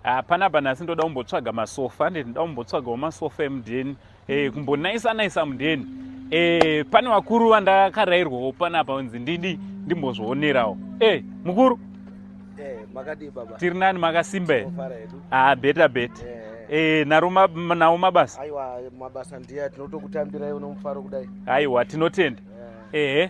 hapana ah, banasi ndoda kumbotsvaga masofa ande ndida kumbotsvagawo masofa emudheni e, eh, kumbonaisa naisa mudheni e, pane vakuru vandakarairwawo panapa kunzi ndidi ndimbozvionerawo e, eh, mukuru tiri nani makasimba here ah, beta beta e, naro ma, nawo mabasa aiwa mabasa ndiya tinotokutambirai unomufaro kudai aiwa tinotenda ehe yeah.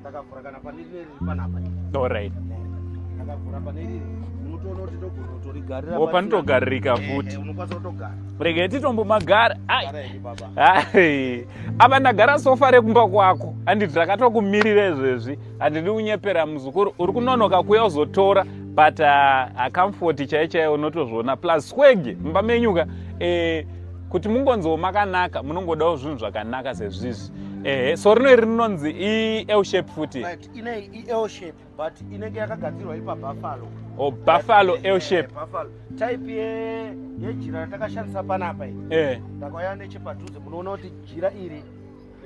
ndakavhura kana pane rine riri panapa orit ndakavhura pane riri unotoona kuti ndogona kutorigarira opa nitogaririka eh, futi eh, unokwanisa kutogara rege titombomagara apa ndagara sofa rekumba kwako handiti rakatokumirira izvezvi handidi unyepera muzukuru uri kunonoka kuya uzotora but uh, acomfort chaichaiyo unotozviona plus swege mumba menyuka eh, kuti mungonziwo makanaka munongodawo zvinhu zvakanaka sezvizvi ehe so rino iri rinonzi iel shape futi ine iel shape but inenge yakagadzirwa ipa buffalo o oh, buffalo iel shape buffalo type yejira ratakashandisa panapa iyi eh. ndakauya nechepadhuze munoona kuti jira iri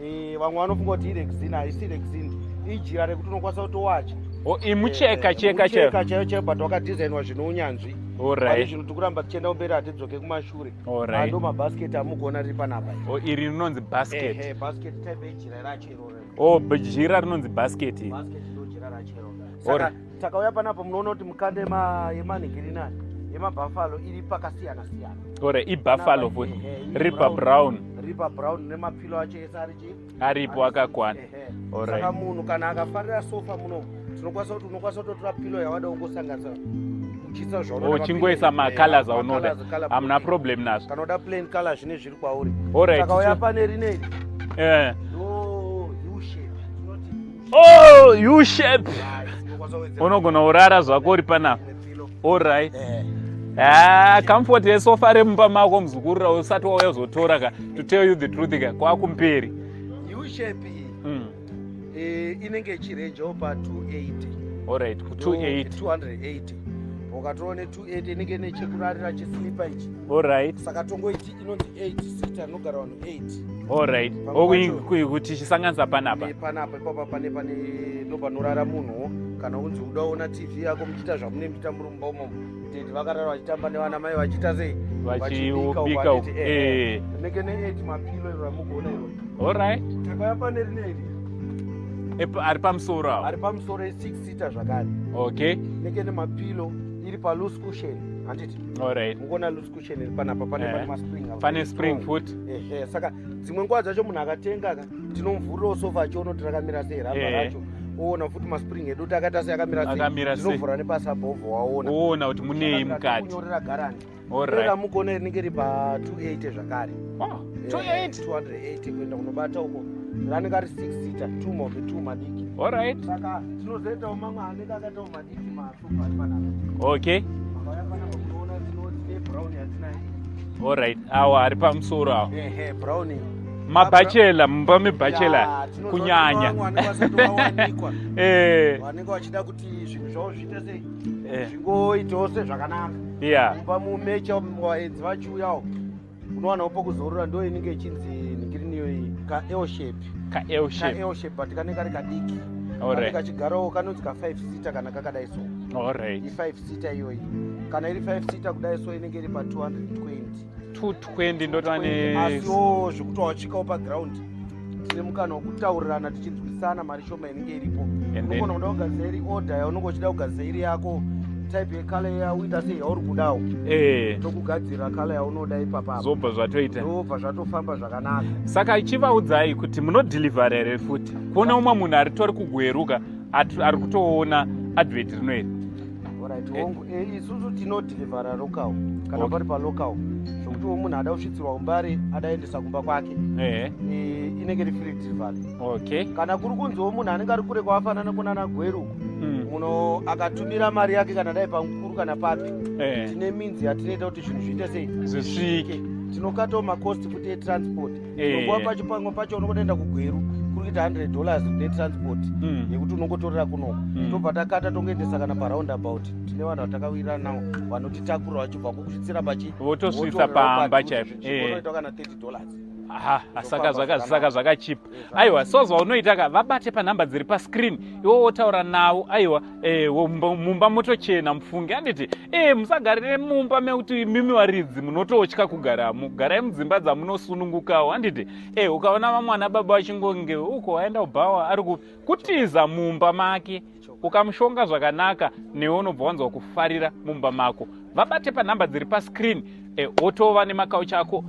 Eh, vamwe vanofunga kuti irexin haisi rexin ijira rekuti unokwanisa kutowacha oh, imucheka eh, cheka cheka chaiyo chaiyo but wakadesignwa zvine unyanzvi orit zvino tiri kuramba tichienda kumberi hatidzoke kumashure ando mabasket amugona riri panapa oh, iri rinonzi basket basket type ijira racho iroro o oh, jira rinonzi basket basket ndo jira racho iroro takauya panapa munoona kuti mukanda yemanhigirinani yemabhafalo iri pakasiyana siyana ore ibhafalo futi ripa brown ripa brown nemapilo acho ese ari chii aripo akakwana saka munhu kana akafarira sofa muno tinokwanisa kuti unokwanisa kutotora pilo yawada ungosanganisa uchisa zvauchingoisa oh, macolors aunoda hamuna problem nazvo kana uda plain color zvine zviri kwauri saka uya pane rinei eh. Oh, you shape. Unogona urara zvako uri panapa. All right. Eh. Ah, comfort yesofa remumba mako muzukuru ra usati wauya uzotora ka to tell you the truth ka kwakumberi. You shape. Mm. Eh, inenge chirange opa 280. All right, 280. 280. Ukatoone 280 inenge nechekurarira chislipa ichi. All right. Saka tongoiti inonzi 8 sita anogara vanhu 8 allright okuti chisanganisa panapa panapa ipapa pane pane ndopanorara munhuwo kana unzi uda ona tv yako muchiita zvamune muchiita muri mumba umomo tete vakarara vachitamba nevana mai vachiita sei vachibika eh, eh. eh. nenge ne8 mapilo iro ramugona iro allright takaya pane rineri ari pamusoro awo ari pamusoro e6 sita zvakare okay nenge nemapilo iri paloose cushion handiti allright mukona loose panapa pane eh. maspring pane spring foot ehe saka dzimwe nguva dzacho munhu akatenga ka tinomvurirawo sofa acho unoti rakamira sei ramba eh. racho oona futi maspring edu kuti akaita sei akamira sei tinovhura nepasabhovho waona oona kuti munei mukati kunyorera garanti rera mugona rinenge ri pa 280 zvakare 280 eh, kuenda kunobata uko ranenge ari 6 sita two mobe two madiki saka tinozoitawo mamwe anenge akaitawo madiki maka Okay. All right. Awa ari pamusoro awa. Ehe, brown. Mabachela, mumba mebachela kunyanya. Eh. Vanenge vachida kuti zvinhu zvavo zviite sei? Eh. Zvingoitawo sezvakanaka. Yeah. Mumba mumecha vaenzi vachiuyawo. unowanawo pokuzorora ndo inenge ichinzi nigrini iyoyi kael shape kael shape kael shape but kanenge kari kadiki alright kachigarawo kanonzi ka 5 seater kana kakadai so alright i 5 seater iyoyi kana iri 5 seater kudai so inenge iri pa 220 220 ndotane asiwo zvekuti wachikawo pa ground tine mukana wekutaurirana tichinzwisana mari shoma inenge iripo unogona kuda kugadzira iri order yaunenge uchida kugadzira iri yako type yekala yauita sei yauri kudawo eh. tokugadzira kala yaunoda ipapa zvobva zvatoita zvobva zvatofamba zvakanaka saka chivaudzai kuti munodhilivhara here futi kuona umwe munhu aritori kugweruka ari kutoona advert rinoiri Alright, eh. hongu eh, isusu tinodhirivhara local kana okay. pari palocal zvokutiwo munhu ada kusvitsirwa umbari adaendesa kumba kwake eh. eh, inenge ri free delivery okay. kana kuri kunziwo munhu anenge ari kure kwawafanana kunana gweru mm. muno akatumira mari yake kana dai pamukuru kana papi eh. tine minzi yatinoita kuti zvinhu zviite sei zvisvike tinokatawo makosti futi etransport Unokuwa eh. pacho pamwe pacho unokotoenda kugweru kuri kuita 100 dollars netransport hmm. yekuti unongotorera kunoko hmm. tobva takata tongoendesa kana paround about tine vanhu vatakawirira nawo vanotitakura vachibva kukusvitsira pachi votosvitsa pamba chaipo eh. kana 30 dollars saka zvakachipa aiwa so zvaunoita ka vabate panhamba dziri pascreen iwo wotaura navo aiwa Eh, mumba motochena mufunge anditi e eh, musagarire mumba mekuti imimi varidzi munototya kugaramo garai mudzimba dzamunosunungukawo anditi e eh, ukaona vamwana baba vachingonge uko aenda kubhawa ari kutiza mumba make ukamushonga zvakanaka newe unobva wanzwa kufarira mumba mako vabate panhamba dziri pascreen e, wotova nemakauchi ako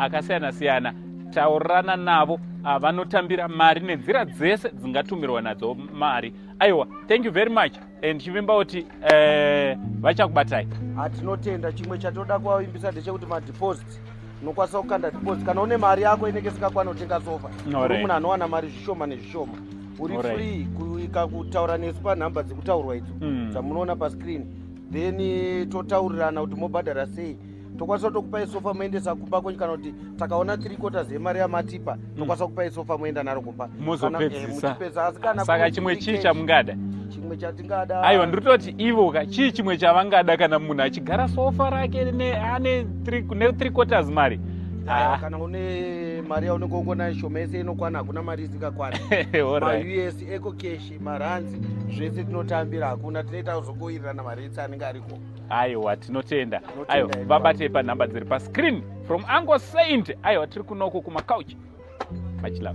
akasiyana siyana taurirana navo ah, vanotambira mari nenzira dzese dzingatumirwa nadzo mari aiwa thank you very much and chivimba kuti eh, vachakubatai hatinotenda chimwe chatoda kuvavimbisa ndechekuti madeposit unokwanisa kukanda deposit kana une mari yako inenge isikakwana kutenga sofa uri munhu anowana mari zvishoma nezvishoma uri free kuika kutaura nesu panhamba dzekutaurwa idzo hmm. dzamunoona pascreen then totaurirana kuti mobhadhara sei tokwanisa kutokupai sofa moendesa kumba kwenyu kana kuti takaona three quarters yemari yamatipa mm. tokwanisa kupai sofa moenda naro kumba mozopedzisa eh, asi kana saka chimwe chii chamungada chimwe chatingada aiwa ndiri kutoti ivo ka chii chimwe chavangada kana munhu achigara sofa rake ane three quarters mari Ah. kana une mari yaunenge ungona shoma yese inokwana hakuna mari isingakwana maus eco cash maranzi zvese tinotambira hakuna tinoita kuzokoirirana mari ese anenge ariko aiwa tinotenda aiwa vabatei panhamba dziri pascreen from ango saint aiwa tiri kunoko kumacouch machilove